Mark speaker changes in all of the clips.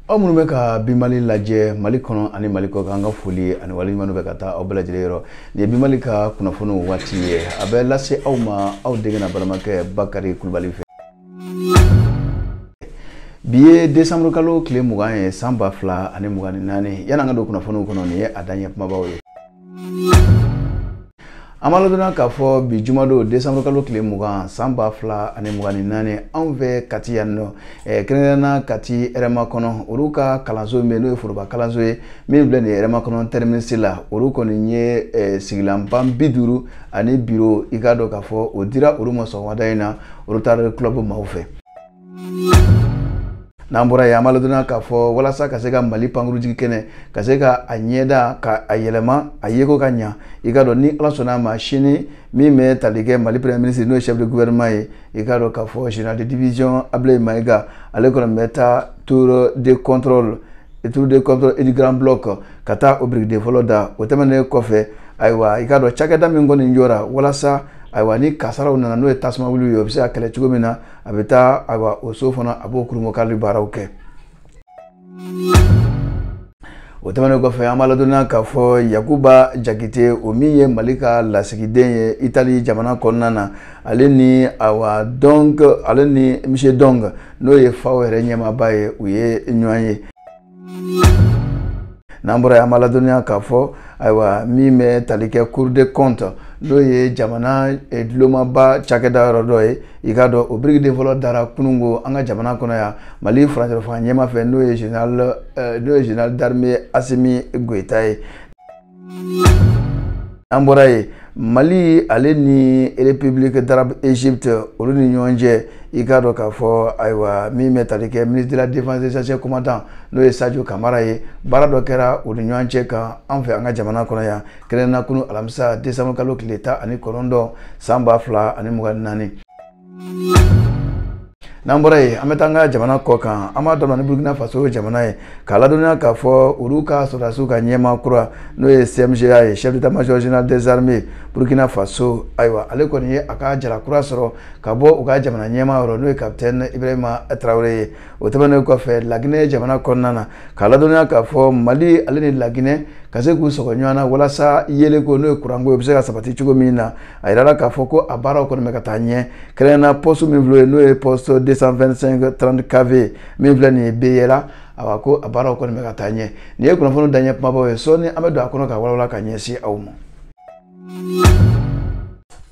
Speaker 1: aw minnu bɛ ka bi mali lajɛ mali kɔnɔ ani mali kɔ kan an ka foli ani waleɲuman bɛ ka taa aw bɛɛ lajɛlen yɔrɔ nin ye bi mali ka kunnafoniw waati ye a bɛ lase aw ma aw denkɛ n'aw balimakɛ bakari kulubali fɛ bi ye desanburu kalo tile mugan ye san ba fila ani mugan ni naani yan'an ka don kunnafoniw kɔnɔ nin ye a daɲɛ kumabaw ye an b'a ladɔnniya k'a fɔ bi jumadon desanburu kalo tile mugan san ba fila ani mugan ni naani anw fɛ kati yan nɔ eh, kɛrɛnkɛrɛnna kati hɛrɛmakɔnɔ olu ka kalanso min bɛ n'o ye foroba kalanso ye min filɛ nin ye hɛrɛmakɔnɔ tɛriminisi la olu kɔni ye eh, sigilanban bi duuru ani biro i k'a dɔn k'a fɔ o dira olu ma sɔgɔmada in na rotary club maaw fɛ n'an bɔra yen an b'a ladɔnniya k'a fɔ walasa ka se ka mali pankurunjigikɛnɛ ka se ka a ɲɛda ka a yɛlɛma a yeko ka ɲa i k'a dɔn ni ala sɔnna a ma sini min bɛ tali kɛ mali premier ministre n'o ye chef de gouvernement ye i k'a dɔn k'a fɔ général de division ablaye mayiga ale kɔni bɛ taa tour de contrôle tour de contrôle et du grand bloc ka taa o birikiden fɔlɔ da o tɛmɛnen kɔfɛ ayiwa i k'a dɔn cakɛda min kɔni jɔra walasa ayiwa ni kasaraw nana n'o ye tasumawuliw ye o bɛ se ka kɛlɛ cogo min na a bɛ taa awa o so fana a b'o kurunbonkari baaraw kɛ o tɛmɛnen kɔfɛ an b'a ladɔnniya k'a fɔ yakuba jakite o min ye mali ka lasigiden ye itali jamana kɔnɔna na ale ni awa dɔnk ale ni monsieur dong n'o ye fao yɛrɛ ɲɛmaaba ye u ye ɲɔgɔn ye n'an bɔra yen an b'a ladɔnniya k'a fɔ ayiwa min bɛ tali kɛ cour des comptes n'o ye jamana eh, dulomaba cakɛda yɔrɔ dɔ ye i k'a dɔn o birikiden fɔlɔ dara kununko an ka jamana kɔnɔ yan mali furancɛfanga ɲɛmaa fɛ n'o ye général d'armée asimi goyita ye an bɔra yen mali ale ni république d'arabe égypte olu ni ɲɔgɔn cɛ i k'a dɔn k'a fɔ ayiwa min bɛ tali kɛ ministre de la défense des anciens combattants n'o ye sadio kamara ye baara dɔ kɛra u ni ɲɔgɔn cɛ kan an fɛ an ka jamana kɔnɔ yan kɛrɛnna kunu alamisa décembre kalo tile tan ani kɔnɔntɔn san ba fila ani mugan ni naani n'an bɔra yen an bɛ taa an ka jamana kɔ kan an b'a daminɛ ni burukina faso jamana ye k'a ladɔnniya k'a fɔ olu ka sɔrɔdasiw ka ɲɛmaa kura n'o ye cemga ye chef d'état major général des armées burukina faso ayiwa ale kɔni ye a ka jala kura sɔrɔ ka bɔ u ka jamana ɲɛmaa yɔrɔ n'o ye capitaine ibrahima traoré ye o tɛmɛnen kɔfɛ laginɛ jamana kɔnɔna na k'a ladɔnniya k'a fɔ mali ale ni laginɛ ka se k'u sɔgɔ ɲɔgɔn na walasa yeelenko n'o ye kuranko ye o bɛ se ka sabati cogo min na a yirala k'a fɔ ko a baaraw kɔni bɛ ka taa ɲɛ kɛrɛnkɛrɛnna poste min filɛ n'o ye poste 225 30 kv min filɛ nin ye beyla awa ko a baaraw kɔni bɛ ka taa ɲɛ nin ye kunnafoni daɲɛ kumabaw ye sɔɔni an bɛ don a kɔnɔ k'a walawala ka ɲɛsin aw ma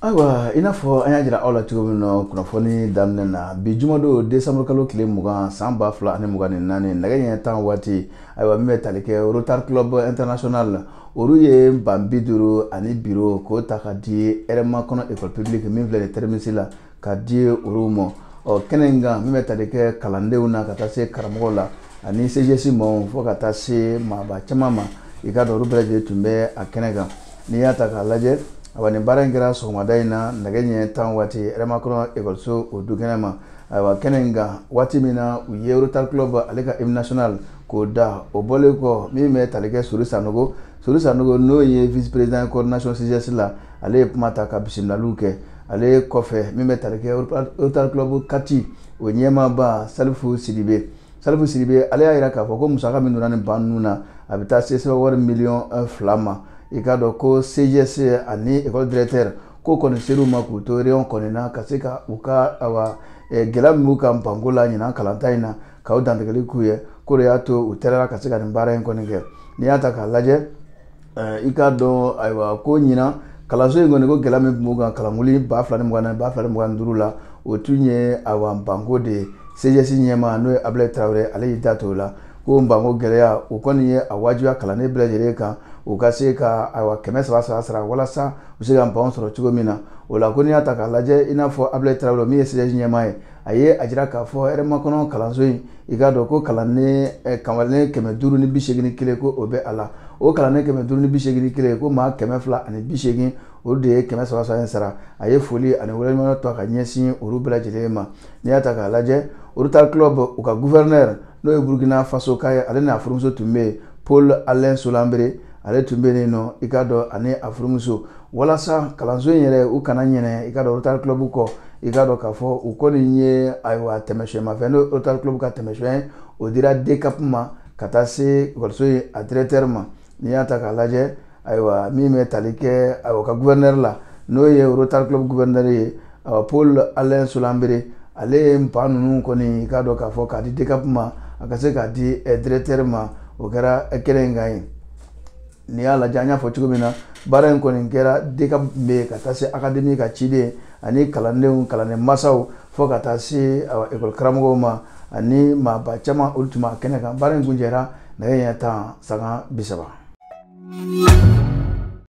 Speaker 1: ayiwa i n'a fɔ an y'a jira aw la cogo min na kunnafoni daminɛ na bi jumadon desanburu kalo tile mugan san ba fila ani mugan ni naani nɛgɛ ɲɛ tan waati ayiwa min bɛ tali kɛ rotary club international la olu ye ban bi duuru ani biro k'o ta ka di hɛrɛmakɔnɔ école publique min filɛ nin terminus la ka di olu ma ɔ kɛnɛ in kan min bɛ tali kɛ kalandenw na ka taa se karamɔgɔw la ani cgs maaw fo ka taa se maaba caman ma i k'a dɔn olu bɛɛ lajɛlen tun bɛ a kɛnɛ kan n'i y'a ta k'a lajɛ awa nin baara in kɛra sɔgɔmada in na nɛgɛ ɲɛ tan waati hɛrɛmakɔnɔ ekɔliso o du kɛnɛ ma ayiwa kɛnɛ in kan waati min na u ye rotary club ale ka hymne national k'o da o bɔlen kɔ min bɛ tali kɛ sori sanogo sori sanogo n'o ye vice président coordination cgs la ale ye kuma ta ka bisimilaliw kɛ ale kɔfɛ min bɛ tali kɛ rotary club kati o ɲɛmaaba salifu sidibe salifu sidibe ale y'a jira k'a fɔ ko musaka min donna nin ban ninnu na a bɛ taa se sefa wari miliyɔn fila ma i k'a dɔn ko cgs ani école directeur k'o kɔni ser'u ma k'u to réunion kɔni na ka se ka u ka awa gɛlɛya min b'u kan banko la ɲinan kalanta in na k'a dantigɛli k'u ye k'o de y'a to u tɛrɛra ka se ka nin baara in kɔni kɛ n'i y'a ta k'a lajɛ i k'a dɔn ayiwa ko ɲinan kalanso in kɔni ko gɛlɛya min tun b'u kan kalankuli ba fila ni mugan naani ba fila ni mugan duuru la o tun ye ayiwa banko de ye cgs ɲɛmaa n'o ye abulayi tarawele ale y'i da to la ko banko gɛlɛya o kɔni ye a wajibiya kalanden bɛɛ lajɛlen kan u ka se ka ayiwa kɛmɛ saba saba sara walasa u se ka ban sɔrɔ cogo min na o la ko n'i y'a ta k'a lajɛ i n'a fɔ abulayi tarawele min ye cgs ɲɛmaa ye a ye a jira k'a fɔ hɛrɛmakɔnɔ kalanso in i k'a dɔn ko kalanden eh, kalanden kɛmɛ duuru ni bi seegin kelen ko o bɛ a la o kalanden kɛmɛ duuru ni bi seegin kelen ko maa kɛmɛ fila ani bi seegin olu de ye kɛmɛ saba saba in sara a ye foli ani waleɲumandɔn ka ɲɛsin olu bɛɛ lajɛlen ma n'i y'a ta k'a lajɛ rotary club u ka gouverneur n'o ye burkina faso ka ye ale n'a furumuso tun bɛ yen paul alain solanbere ale tun bɛ yen nɔ i k'a dɔn ani a furumuso walasa kalanso in yɛrɛ u kana ɲinɛ i k'a dɔn rotary club kɔ i k'a dɔn k'a fɔ u kɔni ye ayiwa tɛmɛsiyɛnmafɛn n'o rotary club ka tɛmɛsiyɛn ye o dira dcap ma ka taa se ekɔliso in a directeur ma n'i y'a ta k'a lajɛ ayiwa min bɛ tali kɛ ayiwa ka gouverneur la n'o ye rotary club gouverneur ye ayiwa paul alain solanbere ale ye ban ninnu kɔni i k'a dɔn k'a fɔ k'a di dcap ma a ka se k'a di directeur ma o kɛra kɛnɛ in kan ye n'i y'a lajɛ an y'a fɔ cogo min na baara in kɔni kɛra dcap bɛ yen ka taa se akademi ka ciden ani kalandenw kalanden masaw fo ka taa se ekɔli karamɔgɔw ma ani maaba caman olu tun b'a kɛnɛ kan baara in kuncɛra nɛgɛ ɲɛ tan sanga bi saba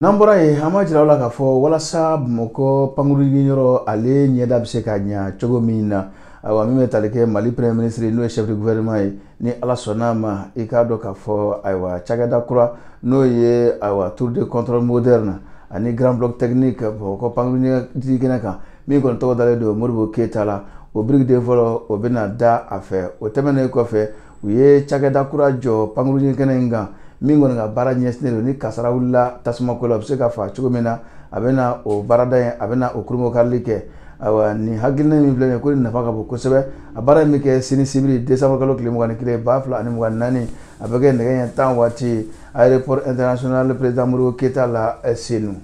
Speaker 1: n'an bɔra yen an b'a jira aw la k'a fɔ walasa bamakɔ pankurun jigi yɔrɔ ale ɲɛda bɛ se ka ɲa cogo min na ayiwa min bɛ tali kɛ mali premier ministre n'o ye chef de gouvernement ye ni ala sɔnna a ma i k'a dɔn k'a fɔ ayiwa cakɛda kura n'o ye ayiwa tour de contrôle moderne ani grand bloc technique bamakɔ pankurun kɛnɛ kan min kɔni tɔgɔ dalen don modibo keyita la o birikiden fɔlɔ o bɛna da a fɛ o tɛmɛnen kɔfɛ u ye cakɛda kura jɔ pankurun kɛnɛ in kan min kɔni ka baara ɲɛsinnen don ni kasara wulila tasumako la a bɛ se ka fa cogo min na a bɛna o baarada in a bɛna o kurunbonkarili kɛ ayiwa nin hakilina min filɛ nin ye ko nin nafa ka bon kosɛbɛ a baara in bɛ kɛ sini sibiri desanburu kalo tile mugan ni kelen ba fila ani mugan naani a bɛ kɛ nɛgɛ ɲɛ tan waati aéroport international président modibo keyita la eh, senu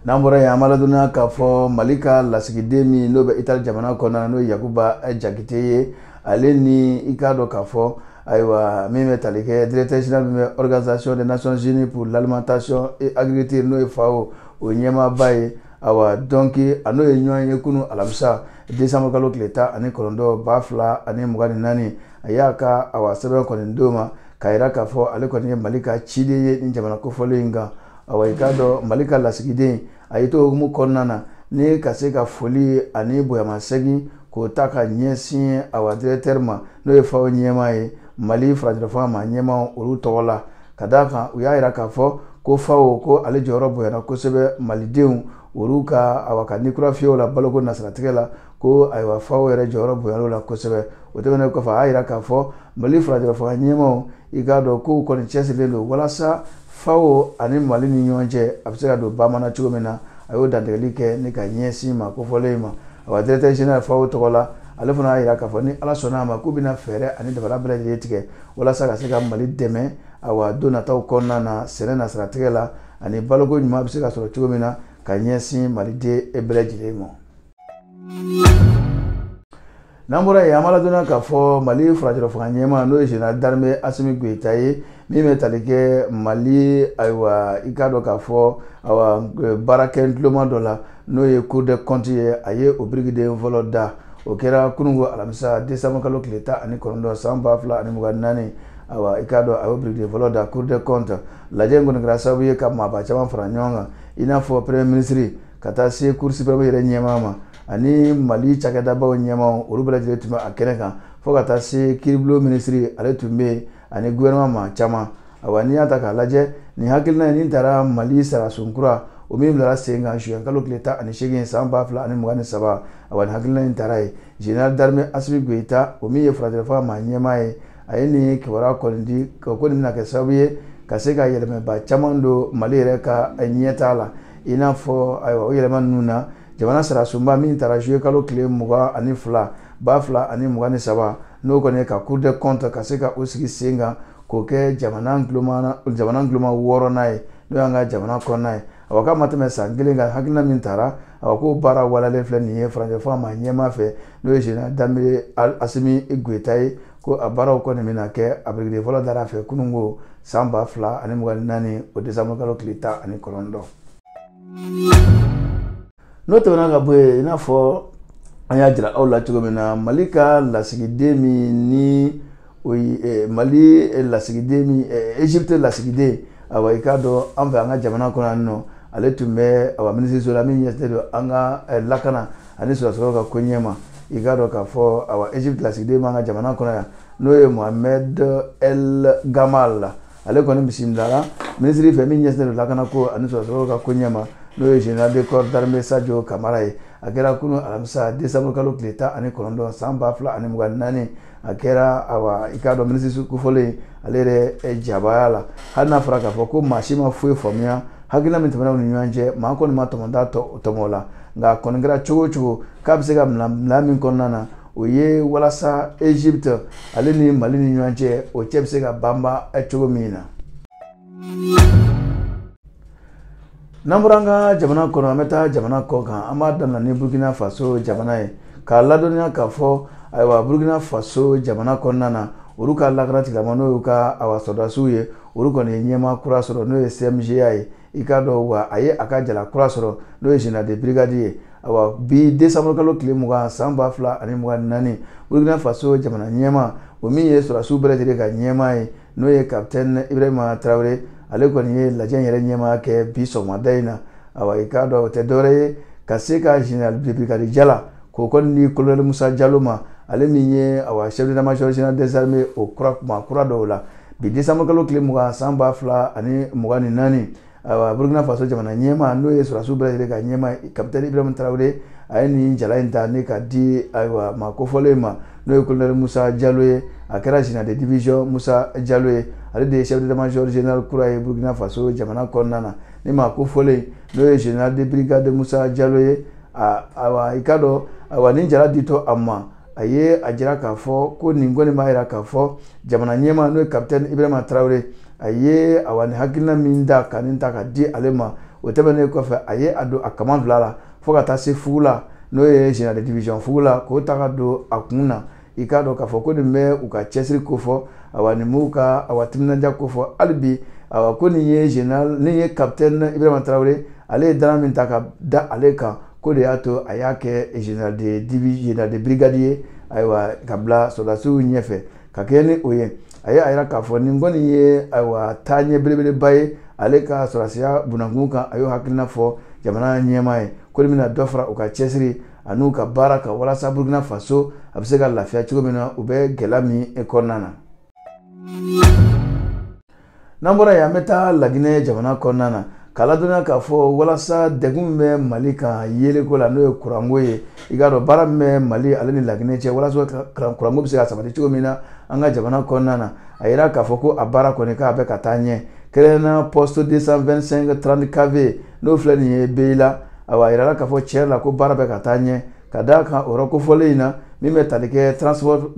Speaker 1: n'an bɔra yen an b'a ladɔnniya k'a fɔ mali ka lasigiden min n'o bɛ itali jamana kɔnɔna na n'o ye yakuba eh, jakite ye ale ni i k'a dɔn k'a fɔ ayiwa min bɛ tali kɛ directeur général min bɛ organisation des nations unies pour l'alimentation et agriculture n'o ye fao o ɲɛmaaba ye awa donc a n'o ye ɲɔgɔn ye kunun alamisa desanburu kalo tile tan ani kɔnɔntɔn ba fila ani mugan ni naani a y'a ka awa sɛbɛn kɔni d'o ma k'a yira k'a fɔ ale kɔni ye mali ka ciden ye ni jamana kofɔlen in kan awa i k'a dɔn mali ka lasigiden a y'i to o hukumu kɔnɔna na ni ka se ka foli ani bonyamasegin k'o ta ka ɲɛsin awa directeur ma n'o ye fao ɲɛmaa ye mali furancɛlafanga maa ɲɛmaaw olu tɔgɔ la ka d'a kan u y'a yira k'a fɔ ko fao ko ale jɔyɔrɔ bonyana kosɛbɛ malidenw olu ka awa ka ni kura fiyɛ u la baloko nasiratigɛ la ko ayiwa fao yɛrɛ jɔyɔrɔ bonyana o la kosɛbɛ o tɛmɛnen kɔfɛ a y'a yira k'a fɔ mali furancɛlafanga ɲɛmaaw i k'a dɔn k'u kɔni cɛsirilen don walasa fao ani mali ni ɲɔgɔn cɛ a bɛ se ka don bamana cogo min na a y'o dantigɛli kɛ ni ka ɲɛsin maa kofɔlen in ma awa directeur général fao tɔgɔ la ale fana y'a yira k'a fɔ ni ala sɔnna a ma k'u bɛna fɛɛrɛ ani dabali bɛɛ lajɛlen tigɛ walasa ka se ka mali dɛmɛ awa don nataw kɔnɔna na sɛnɛ nasiratigɛ la ani baloko ɲuman bɛ se ka sɔrɔ cogo min na ka ɲɛsin maliden e bɛɛ lajɛlen ma n'an bɔra yen an b'a ladɔnniya k'a fɔ mali furancɛlafanga ɲɛmaa n'o ye général d'armée asimi goyita ye min bɛ tali kɛ mali ayiwa i k'a dɔn k'a fɔ awa baarakɛ tuloma dɔ la n'o ye cour des comptes ye a ye o birikiden fɔlɔ da o kɛra kununko alamisa desanburu kalo tile tan ani kɔnɔntɔn san ba fila ani mugan naani awa i k'a dɔn a y'o birikiden fɔlɔ da cour des comptes lajɛ in kɔni kɛra sababu ye ka maaba caman fara ɲɔgɔn kan i n'a fɔ premier ministre ka taa se cour suprême yɛrɛ ɲɛmaa ma ani mali cakɛdabaw ɲɛmaaw olu bɛɛ lajɛlen tun bɛ a kɛnɛ kan fo ka taa se kiiribulon minisiri ale tun bɛ yen ani gouvernement maa caman awa n'i y'a ta k'a lajɛ nin hakilina in nin taara mali sariyasun kura o min bilara sen kan juin kalo tile tan ani seegin san ba fila ani mugan ni saba awa nin hakilina in taara ye général d'armée asimi goyita o min ye furancɛlafanga maa ɲɛmaa ye a ye nin kibaruya kɔni di ko nin bɛna kɛ sababu ye ka se ka yɛlɛmaba caman don mali yɛrɛ ka ɲɛtaa la i n'a fɔ ayiwa o yɛlɛma ninnu na jamana sariyasunba min tara juye kalo tile mugan ani fila ba fila ani mugan ni saba n'o kɔni ye ka cour des comptes ka se ka o sigi sen kan k'o kɛ jamana guloma jamana guloma wɔɔrɔnan ye n'o y'an ka jamana kɔnɔna ye a ko k'a ma tɛmɛ san kelen kan hakilina min tara a ko k'o baara waleyalen filɛ nin ye furancɛla fanga maa ɲɛmaa fɛ n'o ye général d'armée asimi goyita ye ko a baaraw kɔni bɛna kɛ a birikiden fɔlɔ dara a fɛ kununko san ba fila ani mugan ni naani o desanburukalo tile tan ani kɔnɔntɔn n'o tɛmɛna ka bɔ yen i n'a fɔ an y'a jira aw la cogo min na mali ka lasigiden min ni o ye eh, mali eh, lasigiden min eh, egypte lasigiden awa i k'a dɔn an fɛ an ka jamana kɔnɔ yan nɔ ale tun bɛ awa minisiriso la min ɲɛsinnen don an ka eh, lakana ani sɔrɔdasi kɔrɔw ka koɲɛ ma i k'a dɔn k'a fɔ awa egypte lasigiden b'an ka jamana kɔnɔ yan n'o ye mohamed el gamal ale kɔni bisimilala minisiri fɛ min ɲɛsinnen don lakana ko ani sɔrɔdasi kɔrɔw ka koɲɛ ma n'o ye général de corps d'armée sajo kamara ye a kɛra kunu alamisa décembre kalo tile tan ani kɔnɔntɔn san ba fila ani mugan naani a kɛra awa i k'a dɔn minisiri kofɔlen ale yɛrɛ eh, jabaya la hali n'a fɔra k'a fɔ ko maa si ma foyi faamuya hakilina min tɛmɛna u ni ɲɔgɔn cɛ maa kɔni ma tɔmɔta tɔmɔ a la nka a kɔni kɛra cogo o cogo k'a bɛ se ka bila min kɔnɔna na o ye walasa egypte ale ni mali ni ɲɔgɔn cɛ o cɛ bɛ se ka banba cogo min na n'an bɔra an ka jamana kɔnɔ an bɛ taa jamana kɔ kan an b'a daminɛ ni burkina faso jamana ye k'a ladɔnniya k'a fɔ ayiwa burkina faso jamana kɔnɔna na olu ka lakana tigilamaaw n'o y'u ka awa sɔrɔdasiw ye olu kɔni ye ɲɛmaa kura sɔrɔ n'o ye cmga ye i k'a dɔn wa a ye a ka jala kura sɔrɔ n'o ye général de brigade ye awa bi décembre kalo tile mugan san ba fila ani mugan ni naani burkina faso jamana ɲɛmaa o min ye sɔrɔdasiw bɛɛ lajɛlen ka ɲɛmaa ye n'o ye capitaine ibrahima tarawele ale kɔni ye lajɛ in yɛrɛ ɲɛmaa kɛ bi sɔgɔmada in na awa i k'a dɔn o tɛ dɔwɛrɛ ye ka se ka général de brigade jala k'o kɔni di colonel musa jalo ma ale min ye awa chef d'état major général des armées o kura kuma kura dɔw la bi décembre kalo tile mugan san ba fila ani mugan ni naani ayiwa burkina faso jamana ɲɛmaa n'o ye sɔrɔdasiw bɛɛ lajɛlen ka ɲɛmaa kapitɛni ibrahim tarawele a ye nin jala in ta ni k'a di ayiwa maa kofɔlen ma n'o ye kolonɛli musa jalo ye a kɛra général de division musa jalo ye ale de ye chef d'état major général kura ye burkina faso jamana kɔnɔna na ni maa kofɔlen n'o ye général de brigade musa jalo ye ayiwa i k'a dɔn ayiwa nin jala ditɔ a ma a ye a jira k'a fɔ ko nin kɔni b'a jira k'a fɔ jamana ɲɛmaa n'o ye kapitɛni ibrahima tarawele a ye awa ni hakilina min ta ka nin ta ka di ale ma o tɛmɛnen kɔfɛ a ye a don a kaman fila la fo ka taa se fugu la n'o ye général de division fugu la k'o ta ka don a kun na i k'a dɔn k'a fɔ ko nin bɛ u ka cɛsiri kofɔ awa nin b'u ka awa timinanja kofɔ hali bi awa ko nin ye général nin ye kapitɛni ibrahima tarawele ale ye dannaya min ta ka da ale kan k'o de y'a to a y'a kɛ général de divi général de brigade ye ayiwa ka bila sɔrɔdasiw ɲɛfɛ ka kɛɲɛ ni o ye a ye a yira k'a fɔ nin kɔni ye ayiwa taaɲɛ belebeleba ye ale ka sɔrɔdasiya bunankun kan a y'o hakilina fɔ jamana ɲɛmaa ye k'olu bɛna dɔ fara u ka cɛsiri an'u ka baara kan walasa burukina faso a bɛ se ka lafiya cogo min na u bɛ gɛlɛya min kɔnɔna na n'an bɔra yen an bɛ taa laginɛ jamana kɔnɔna na k'a ladɔnniya k'a fɔ walasa degun min bɛ mali kan yeleko la n'o ye kuranko ye i k'a dɔn baara min bɛ mali ale ni laginɛ cɛ walasa kuranko bɛ se ka sabati cogo min na an ka jamana kɔnɔna na a yira k'a fɔ ko a baara kɔni k'a bɛ ka taa ɲɛ kɛrɛnkɛrɛnnenya poste 225 30 kv n'o filɛ nin ye beyila awa a yirala k'a fɔ tiɲɛ yɛrɛ la ko baara bɛ ka taa ɲɛ Ka d'a kan o kofɔlen in na min bɛ tali kɛ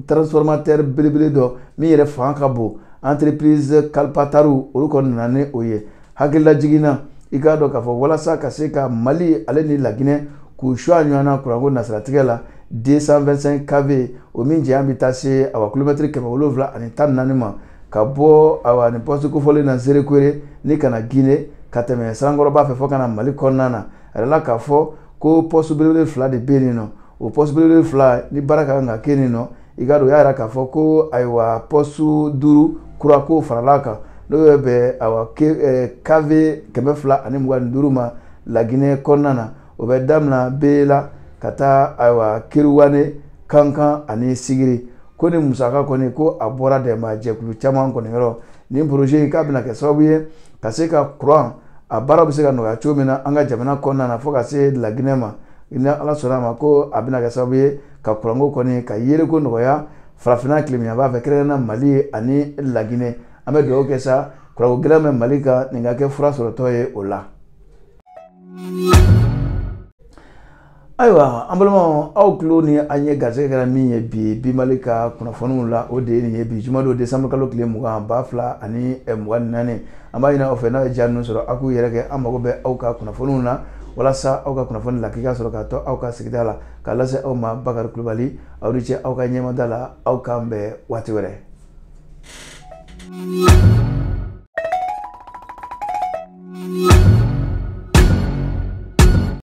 Speaker 1: transformateur belebele dɔ min yɛrɛ fanga ka bon entreprise kalpataru olu kɔni nana ni o ye a lajiginna i k'a dɔn k'a fɔ walasa ka se ka mali ale ni laginɛ k'u su ɲɔgɔn na kuranko nasiratigɛ la 225 kv o min janya bɛ taa se awa kilomɛtiri kɛmɛ wolonwula ani tan ni naani ma ka bɔ awa nin pɔsi kofɔlen na nzerekore ni ka na gine ka tɛmɛ sanankɔrɔba fɛ fo ka na mali kɔnɔna na a yira k'a fɔ ko pɔsi belebele fila de bɛ yen nɔ o pɔsi belebele fila nin baara ka kan ka kɛ nin nɔ i k'a dɔn o y'a yira k'a fɔ ko ayiwa pɔsi duuru kura k'o farala a kan n'o bɛ bɛn awa kv eh, kɛmɛ fila ani mugan ni duuru ma laginɛ kɔnɔna na o bɛ damina beyila ka taa ayiwa keruwane kankan ani sigiri ko nin musaka kɔni ko a bɔra dɛmɛbaa jɛkulu caman kɔni yɔrɔ nin projet in k'a bɛna kɛ sababu ye ka se ka kuran a baara bɛ se ka nɔgɔya cogo min na an ka jamana kɔnɔna na fo ka se laginɛ ma ni ala sɔnna a ma ko a bɛna kɛ sababu ye ka kuranko kɔni ka yeleko nɔgɔya farafinna tilebinyanfan fɛ kɛrɛnkɛrɛnnenya mali ani laginɛ an bɛ dugawu kɛ sa kuranko gɛlɛya min bɛ mali kan nin ka kɛ fura sɔrɔtɔ ye o la ayiwa an balimaw aw tulo ni aw ɲɛ garisɛgɛ kɛra min ye bi bi mali ka kunnafoniw la o de ye nin ye bi juma don desanburu kalo tile mugan ba fila ani eh, mugan ni naani an b'a ɲini aw fɛ n'aw ye ja ninnu sɔrɔ aw k'u yɛrɛkɛ an mago bɛ aw ka kunnafoniw na walasa aw ka kunnafoni lakika sɔrɔ ka to aw ka sigida la k'a lase aw ma bakari kulubali aw ni ce aw ka ɲɛmada la aw k'an bɛn waati wɛrɛ